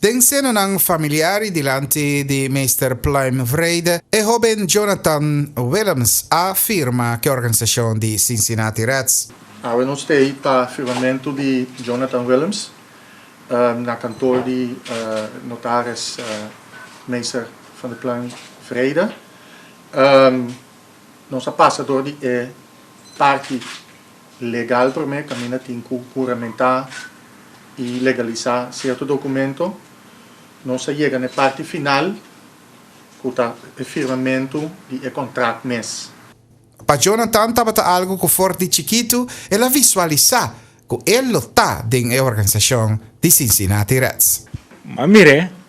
Den senanan familiar y dilanti di Meester Pluim Vrede, e hoben Jonathan Willems a firma cu e organisacion di Cincinnati Reds. Awe nos ta ei pa firmamento di Jonathan Willems na kantoor di notaris Meester Van der Pluim Vrede. Nos a pasa door di e parti. Legal promé caminda tin cu juramentá y legalisá cierto documento. Nos a yega na e parti final cu ta e firmamento di e contract mes. Pa Jonathan tabata algo cu for di chikitu el a visualisá cu el lo ta den e organisacion di Cincinnati Reds. M'a mir'é.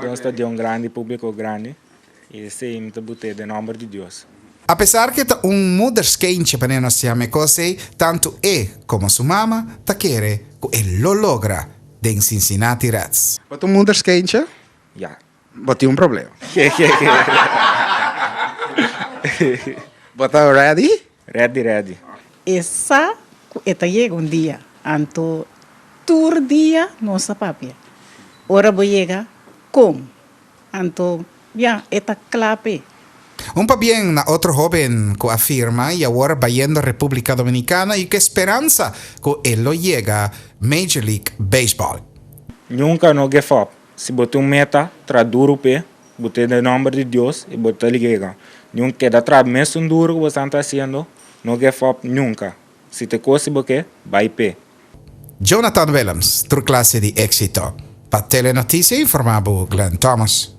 Dios ta di un grandi publico grandi y esey mi ta bute den nomber di Dios. A pesar cu e ta un moederskeintje pa Nena Siameco esey, tanto e como su mama ta kere cu e lo logra den Cincinnati Reds. Bo ta un moederskeintje? Ya. Bo tin un problema. Bo ta ready? Ready ready. E sa cu e ta yega un dia, anto tur dia nos ta papia. Ora bo yega, con? Anto, ya, e ta cla p'e. Un pabien na otro hoben cu a firma y awor bayendo Republica Dominicana y cu e speransa cu e lo yega Major League Baseball. Nunca no give up. Si bo tin un meta, tra duru p'e, bo ta den nomber di Dios i bo ta ligega. Niun keda tra mes un duru ku bo esnan ta hasiendo, no gef op nunka. Si te kosi bo ke, bai p'e. Jonathan Willems, tur klase di éksito. Pa Telenotisia informá bu Glen Thomas.